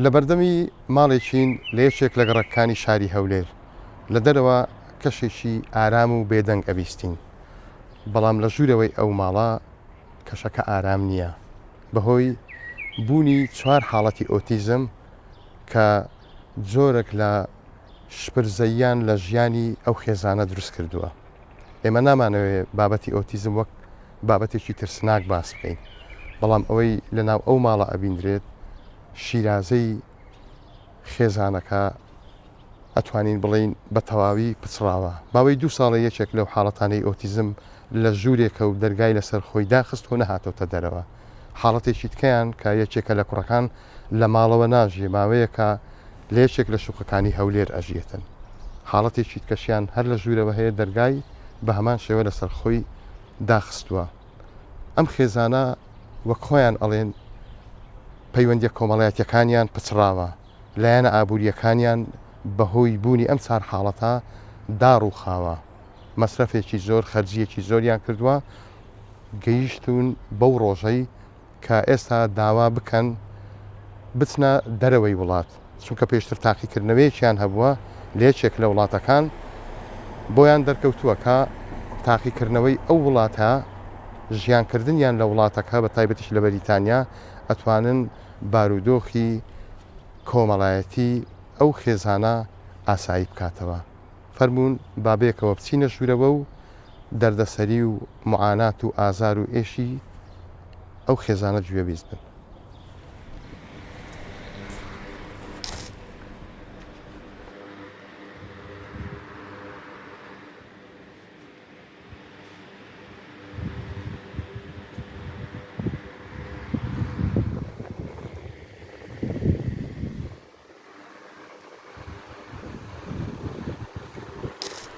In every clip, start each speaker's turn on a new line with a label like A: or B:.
A: لە بەردەمی ماڵێکین لە یەکێک لە گەڕەکەکانی شاری هەولێر، لە دەرەوە کەشێکی ئارام و بێدەنگ ئەبیستین، بەڵام لە ژوورەوەی ئەو ماڵە کەشەکە ئارام نییە، بەهۆی بوونی چوار حاڵەتی ئۆتیزم کە جۆرەک لە شپرزەییان لە ژیانی ئەو خێزانە دروستکردووە، ئێمە نامانەوێ بابەتی ئۆتیزم وەک. بابەتێکی ترسناک باس بکەین بەڵام ئەوەی لە ناو ئەو ماڵە ئەبیندرێت شیرازەی خێزانەکە ئەتوانین بڵین بە تەواوی پچڕاوە ماوەی دوو ساڵە یەکێک لەو حاڵەتانەی ئۆتیزم لە ژوورێکە و دەرگای لەسەر خۆی داخست و نەهاتۆتە دەرەوە حاڵەتێکی تکەیان کە یەکێکە لە کوڕەکان لە ماڵەوە ناژیێ ماوەیەکە لە یەکێک لە شوقەکانی هەولێر ئەژیێتن حاڵەتی چیتکەشیان هەر لە ژوورەوە هەیە دەرگای بە هەمان شێوە لە سەرخۆی داخستووە ئەم خێزانە وەک خۆیان ئەڵێن پەیوەندە کۆمەڵایەتەکانیان پچڕاوە لایەنە ئابوووریەکانیان بەهۆی بوونی ئەم چار حاڵەتە داڕوخاوە مەسرەفێکی زۆر خەرجیەکی زۆریان کردووە گەیشتون بەو ڕۆژەی کە ئێستا داوا بکەن بچنە دەرەوەی وڵات، چونکە پێشتر تاقیکردنەوەیەکیان هەبووە لە یەکێک لە وڵاتەکان، بۆیان دەرکەوتووە کە تاقیکردنەوەی ئەو وڵاتە ژیانکردنیان لە وڵاتەکە بە تایبەتیش لە بەریتانیا ئەتوانن بارودۆخی کۆمەڵایەتی ئەو خێزانە ئاسایی بکاتەوە. فەرموون با بەیەکەوە بچینە ژوورەوە و دەردەسەری و موعانات و ئازار و ئێشی ئەو خێزانە گوێبیست بن.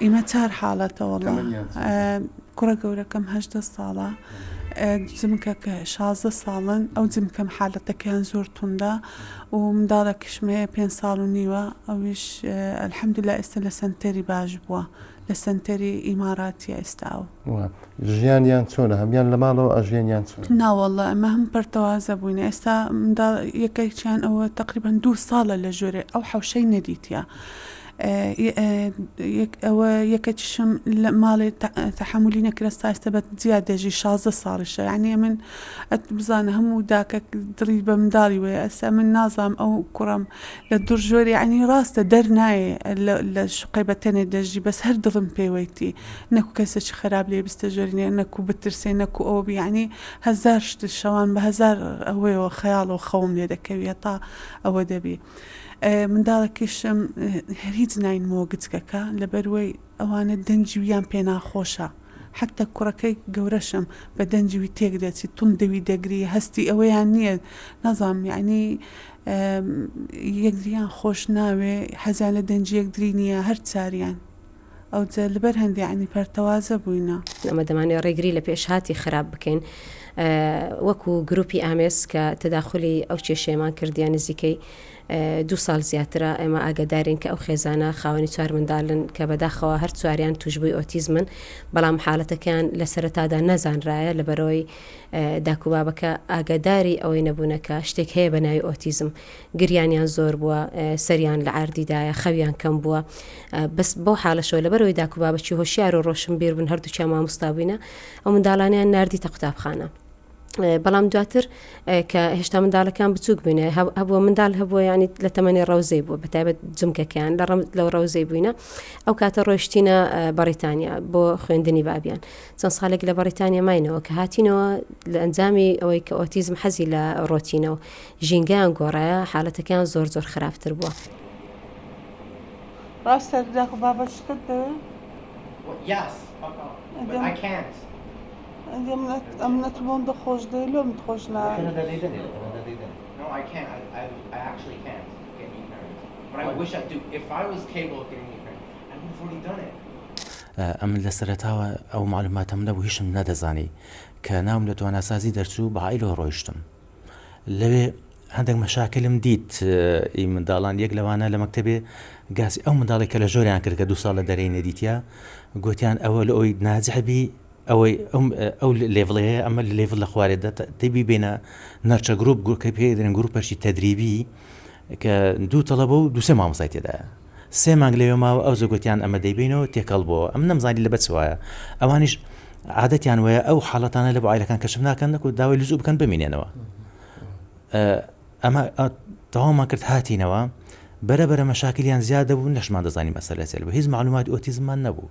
B: ئیمە چار حالەتە وەڵا کوڕە گەورەکەم هەشدە ساڵە جمکەکە شازە ساڵن ئەو جمکەم حالەتەکەیان زۆر توندا و منداڵە کشمەیە پێ ساڵ و نیوە ئەوش ئەلحەمدلا ئێستا لە سنتەری باش بووە لە سەنتەری ئیماراتیە ئێستا و. ژیانیان
A: چۆنە هەموان لە ماڵەوە ئەژێن یان چۆنە؟ نا واللە ئەمە هەموو
B: پەرتەوازە بووینە ئێستا منداڵ یەکێکیان ئەوە تەقریبەن دوو ساڵە لە ژۆرێ ئەو حەوشەی نەدیتیە ئەوە یەکەکیشم لە ماڵێ تەحملی نەکرە ساستە بە جیا دەژی شازە ساڵیشە یعنی من ئەت بزانە هەموو داکە دڵی بە منداڵی وەیە ئەسە من نازام ئەو کوڕم لە دوڕ ژۆر یەعنی ڕاستە دەر نایێ لە شوقەی بە تەنێ دەژی بەس هەر دڵم پێ وەیتی نەکو کەسێکی خەراپ لێ بستە ژۆرینێ نەکو بترسێ نەکو ئەوە بی یەعنی هەزار شت شەوان بە هەزار ئەوەیەوە خەیاڵەوە خەوم لێ دەکەوی هەتا ئەوە دەبی منداڵەکیشم هیچ ناینمەوە گچکەکە لەبەر وەی ئەوانە دەنگی ویان پێ ناخۆشە حەتە کوڕەکەی گەورەشم بە دەنگی وی تێک دەچی توند دەوی دەگری هەستی ئەوەیان نییە نازانم یەعنی یەکدریان خۆش ناوێ حەزیان لە دەنگی یەکدری نییە هەر چاریان ئەوجە لەبەر هەندێ یەعنی پەرتەوازە بووینە. ئەمە دەمانەوێ ڕێگری
C: لە پێشهاتی خراپ بکەین وەکو گروپی ئامێز کە تەداخولی ئەو کێشەیەمان کردیە نزیکەی دوو ساڵ زیاترە ئێمە ئاگەدارین کە ئەو خێزانە خاوەنی چوار منداڵن کە بەداخەوە هەر چواریان توشبووی ئۆتیزمن، بەڵام حاڵەتەکەیان لە سەرەتادا نەزانرایە لەبەرئەوەی داک و بابەکە ئاگەداری ئەوەی نەبوونە کە شتێک هەیە بە ناوی ئۆتیزم. گریانیان زۆر بووە، سەریان لە عەردی دایە، خەویان کەم بووە. بەس بەو حاڵەشەوە لەبەرئەوەی داک و بابەکی هۆشیار و ڕۆشنبیر بوون، هەردووکیان مامۆستا بووینە، ئەو منداڵانەیان ناردیتە قوتابخانە. بەڵام دواتر کە هێشتا منداڵەکان بچووک بووینە هەبووە منداڵ هەبووە ینی لە تەمەنی ڕەوزەی بووە بەتابەت جمکەکەیان لە ڕم لەو ڕەوزەی بووینە ئەو کاتە ڕۆشتینە بەڕیتانیا بۆ خوێندنی بابیان چەند ساڵێک لە بەڕیتانیا ماینەوە کە هاتینەوە لە ئەنجامی ئەوەی کە ئۆتیزم حەزی لە ڕۆتینەوە ژینگەیان گۆڕایە حالەتەکان زۆر زۆر خراپتر بووە. ڕاستە داخ بابەت شتت
B: دەوێت؟ Yes, but I can't. ئەم
D: نەت بۆم دە خۆش دەی لۆم خۆش نا ئەم لە سەرەتاوە ئەو معلوماتەم نەبوو هیچم نەدەزانی کە ناوم لە تواناسازی دەرچوو بە عیلۆ ڕۆیشتم لەوێ هەندێک مەشاکلم دیت ئی منداڵان یەک لەوانە لە مەکتتەبێ گاسی ئەو منداڵێک کە لە ژۆریان کرد کە دو ساڵ لە دەرەی نەدیتە گوتیان ئەوە لە ئەوی نازحبی ئەوەی ئەو لێڤڵەی هەیە ئەمە لە لێڤڵ لە خوارێ دە تێ بیبێنە نەرچە گروپ گروپکە پێ دەێن گروپەشی تەدریبی کە دوو تەڵەبە و دوسێ مامۆسای تێدایە سێ مانگ لەوێ ماوە ئەو زۆگوتیان ئەمە دەیبینەوە تێکەڵ بۆ ئەم نەمزانی لە بەچ وایە ئەوانیش عادەتیان وایە ئەو حاڵەتانە لە بۆعیلەکان کەشم ناکەن نەکو داوای لزوو بکەن بمینێنەوە ئەمە تەوامان کرد هاتینەوە بەرە بەرە مەشاکلیان زیادە بوو نەشمان دەزانانی مەسەلەسێل بە هیچ معلومات ئۆتیزممان نەبوو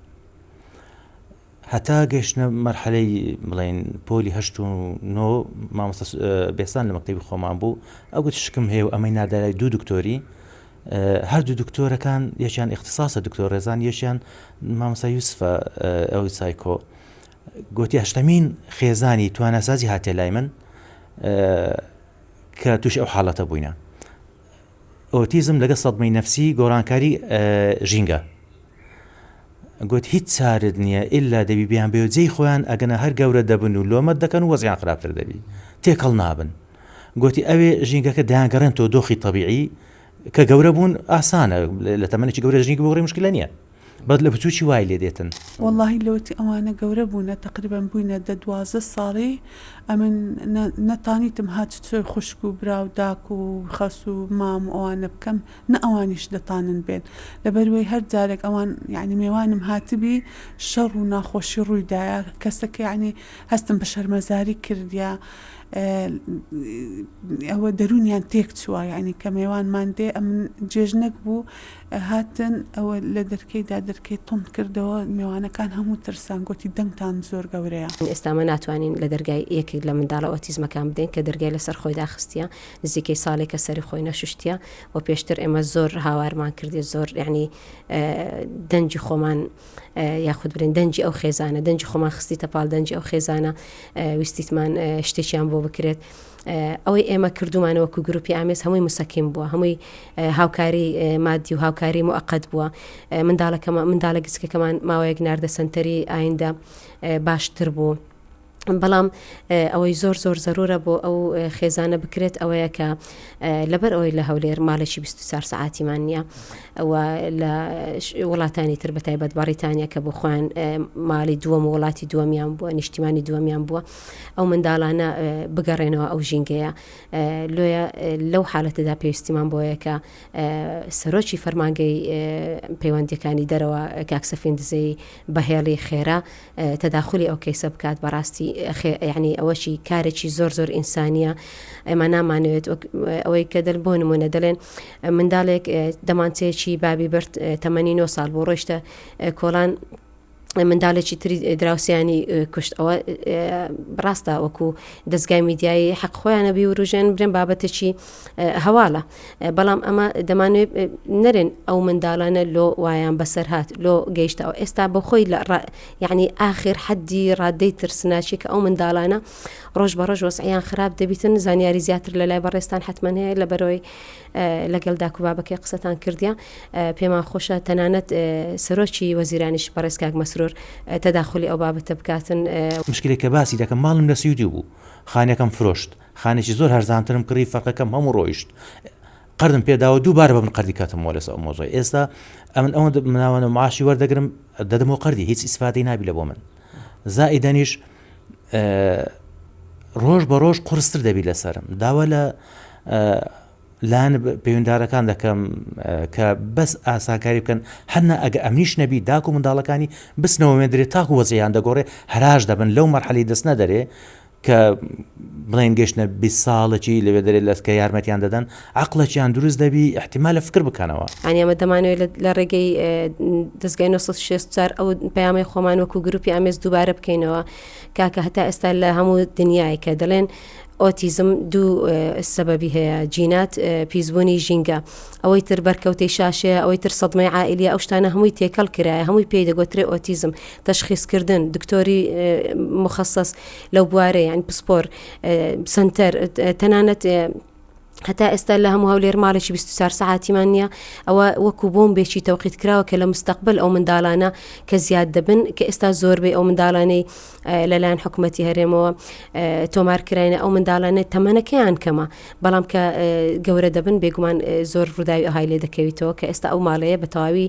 D: هەتا گەیشتنە مەرحەلەی بڵێین پۆلی هەشت و نۆ مامۆستا بێسان لە مەکتەبی خۆمان بوو ئەگوت شکم هەیە و ئەمەی نادارای دوو دکتۆری هەردوو دکتۆرەکان یەکیان اختصاصە دکتۆر ڕێزان یەکیان مامۆستا یوسفە ئەوی سایکۆ گوتی هەشتەمین خێزانی توانەسازی هاتێ لای من کە توش ئەو حاڵەتە بووینە ئۆتیزم لەگەڵ سەدمەی نەفسی گۆڕانکاری ژینگە گوت هیچ چارت نییە ئللا دەبی بیان بێ جێی خۆیان ئەگەنە هەر گەورە دەبن و لۆمە دەکەن وەزیان خراپتر دەبی تێکەڵ نابن گوتی ئەوێ ژینگەکە دەیانگەڕێن تۆ دۆخی تەبیعی کە گەورە بوون ئاسانە لە تەمەێکی گەورە ژنی بۆڕی مشکلە نیە بەس لە بچوکی وای لێ دێتن. وەڵاهی لۆتی
B: ئەوانە گەورە بوونە تەقریبەن بووینە دە دوازدە ساڵی ئەمن نەتانیتم هات چۆی خوشک و برا و داک و خەس و مام و ئەوانە بکەم نە ئەوانیش دەتانن بێن لەبەروەی هەر جارێک ئەوان یانی مێوانم هاتبی شەڕ و ناخۆشی ڕووی دایە کەسەک یانی هەستم بە شەرمەزاری کردیە ئەوە دەرونیان تێک چووە یانی کە مێوانمان دێ ئەمن جێژنەک بوو هاتن ئەوە لە دەرکەی دا دەرکەی توند کردەوە مێوانەکان هەموو ترسان گۆتی دەنگتان زۆر گەورەیە. ئێستا ئمە ناتوانین
C: لە دەرگای یەکێک لە منداڵە ئۆتیزمەکان بدەین کە دەرگای لەسەر خۆی داخستیە نزیکەی ساڵێکە سەری خۆی نەشوشتیە وە پێشتر ئێمە زۆر هاوارمان کردی زۆر یعنی دەنگی خۆمان یاخود برێن دەنگی ئەو خێزانە دەنگی خۆمان خستیتە پاڵ دەنگی ئەو خێزانە ویستیتمان شتێکیان بۆ بکرێت ئەوەی ئێمە کردومانە وەکو گروپی ئامێز هەمووی مسەکیم بووە هەمووی هاوکاری مادی و هاوکاری موقت بووە منداڵەکەمە منداڵە گچکەکەمان ماوەیەک ناردە سنتەری ئایندە باشتر بوو. بەڵام ئەوەی زۆر زۆر زەرورە بۆ ئەو خێزانە بکرێت ئەوەیە کە لەبەر ئەوەی لە هەولێر ماڵێکی 24 سعاتیمان نییە ئەوە لە وڵاتانی تر بەتایبەت بەڕیتانیا کە بۆ خۆیان ماڵی دووەم وڵاتی دووەمیان بووە نیشتیمانی دووەمیان بووە ئەو منداڵانە بگەڕێنەوە ئەو ژینگەیە لۆیە لەو حالەتەدا پێویستیمان بۆیە کە سەرۆکی فەرمانگەی پەیوەندەکانی دەرەوە کاکسەفین دزەی بەهێڵی خێرا تەداخلی ئەو کەیسە بکات بەڕاستی ینی ئەوەشی کارێکی زۆر زۆر ئینسانیە ئەمە نامانوێت ئەوەی کە دەل بۆ نمونە دەڵێن منداڵێک دەمانچەیەکی بابی برد تەمەنی 9 سال بۆ ڕۆشتە کۆڵان منداڵێکی تری دراوسیانی کوشت ئەوە ڕاستە وەکو دەستگای میدیایی حەق خۆیانە بیوروژێن برێن بابەتێکی هەواڵە بەڵام ئەمە دەمانێت نەرێن ئەو منداڵانە لۆ وایان بەسەر هاات لۆ گەیشتەوە ئێستا بە خۆی لە یعنی ئاخر حەدی ڕادەی ترسناچی کە ئەو منداڵانە ڕۆژ بە ڕۆژ وەسعیان خراپ دەبیتن زانیاری زیاتر لە لای بەڕێستان حتممە هەیە لە بەرەوەی لەگەل داک و بابەکەی قسەتان کردیە پێمان خۆشە تەنانەت سەرۆکی وەزیرانیش بەڕێز کاک مەسرور تەداخولی ئەو بابەتە بکاتن. مشکلەی کە باسی
D: دەکەم ماڵم لە سویدی بوو خانەکەم فرۆشت خانێکی زۆر هەرزانترم کڕی فەرقەکەم هەموو ڕۆیشت قەردم پێ داوە دوو بارە بەمن قەردی کەتمەوە لەسە ئەو مۆزەی ئێستا ئەمن ئەوەندە مناوەنە معاشی وەردەگرم دەدەمەوە قەردی هیچ ئیسفادەی نابی لە بۆ من زائیدەنیش ڕۆژ بە ڕۆژ قرستر دەبی لەسرم داوا لە لایەن پەیوەنددارەکان دەکەم کە بەس ئاساکاری بکەن هەنە ئەگە ئەمنیش نەبی داکو منداڵەکانی بسنەوە وێندرێت تاکو وەزیان دەگۆڕێ هەراش دەبن لەو مەرحەلی دەستنە دەرێ کە بڵێن گەشتنە بیست ساڵەکی لەوێ دەرێت لە کە یارمەتیان دەدەن عەقڵەکیان دروست دەبی احتیمالە فکر بکەنەوە. یانی ئەمە دەمانەوێت لە
C: لە ڕێگەی دەزگای 964 ئەو پەیامەی خۆمان وەکو گروپی ئامێز دووبارە بکەینەوە کاکە هەتا ئێستا لە هەموو دنیای کە دەڵێن ئۆتیزم دوو سەبەبی هەیە جینات پیسبوونی ژینگە ئەوەی تر بەرکەوتەی شاشەیە ئەوەی تر سەدمەی عائلیە ئەو شتانە هەمووی تێکەڵ کرایە هەمووی پێی دەگوترێ ئۆتیزم تەشخیسکردن، دکتۆری موخەسەس لەو بوارە یان پسپۆر سنتەر تەنانەت هەتا ئێستا لە هەموو هەولێر ماڵێکی 24 سعاتیمان نییە ئەوە وەکو بۆم بێکی تەوقیت کراوە کە لە مستەقبل ئەو منداڵانە کە زیاد دەبن کە ئێستا زۆربەی ئەو منداڵانەی لەلایەن حکوومەتتی هەرێمەوە تۆمارکراینە ئەو منداڵانە تەمەنەکەیان کەمە بەڵام کە گەورە دەبن بێگومان زۆر ڕووداوی ئەهای لێ دەکەویتەوە کە ئێستا ئەو ماڵەیە بە تەواوی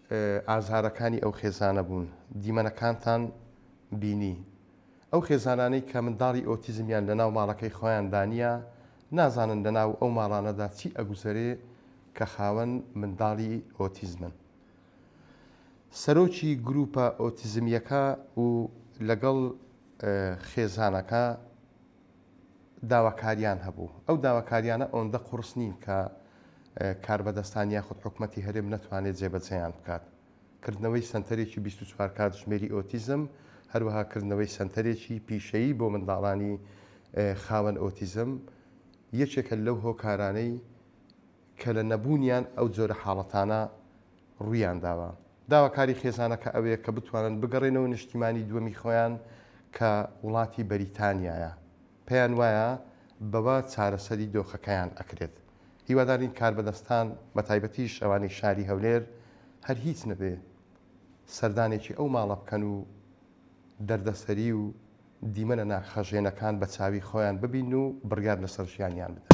A: ئازارەکانی ئەو خێزانە بوون دیمەنەکانتان بینی ئەو خێزانانەی کە منداڵی ئۆتیزمیان لە ناو ماڵەکەی خۆیاندا نیە نازانن لە ناو ئەو ماڵانەدا چی ئەگوزەرێ کە خاوەن منداڵی ئۆتیزمن سەرۆکی گروپە ئۆتیزمیەکە و لەگەڵ خێزانەکە داواکاریان هەبوو، ئەو داواکاریانە ئەوەندە قوڕس نین کە کاربەدەستان یاخود حکومەتی هەرێم نەتوانێت جێبەجێیان بکات، کردنەوەی سەنتەرێکی بیست و چوار کاتژمێری ئۆتیزم، هەروەها کردنەوەی سەنتەرێکی پیشەیی بۆ منداڵانی خاوەن ئۆتیزم یەکێکە لەو هۆکارانەی، کە لە نەبوونیان ئەو جۆرە حاڵەتانە ڕوویانداوە. داواکاری خێزانەکە ئەوەیە کە بتوانن بگەڕێنەوە نیشتیمانی دووەمی خۆیان کە وڵاتی بەریتانیایە، پێیان وایە بەوە چارەسەری دۆخەکەیان ئەکرێت. هیوادارین کاربەدەستان بەتایبەتیش ئەوانەی شاری هەولێر هەر هیچ نەبێ سەردانێکی ئەو ماڵە بکەن و، دەردەسەری و دیمەنە ناخهەژێنەکان بە چاوی خۆیان ببین و بڕیار لەسەر ژیانیان بدەن.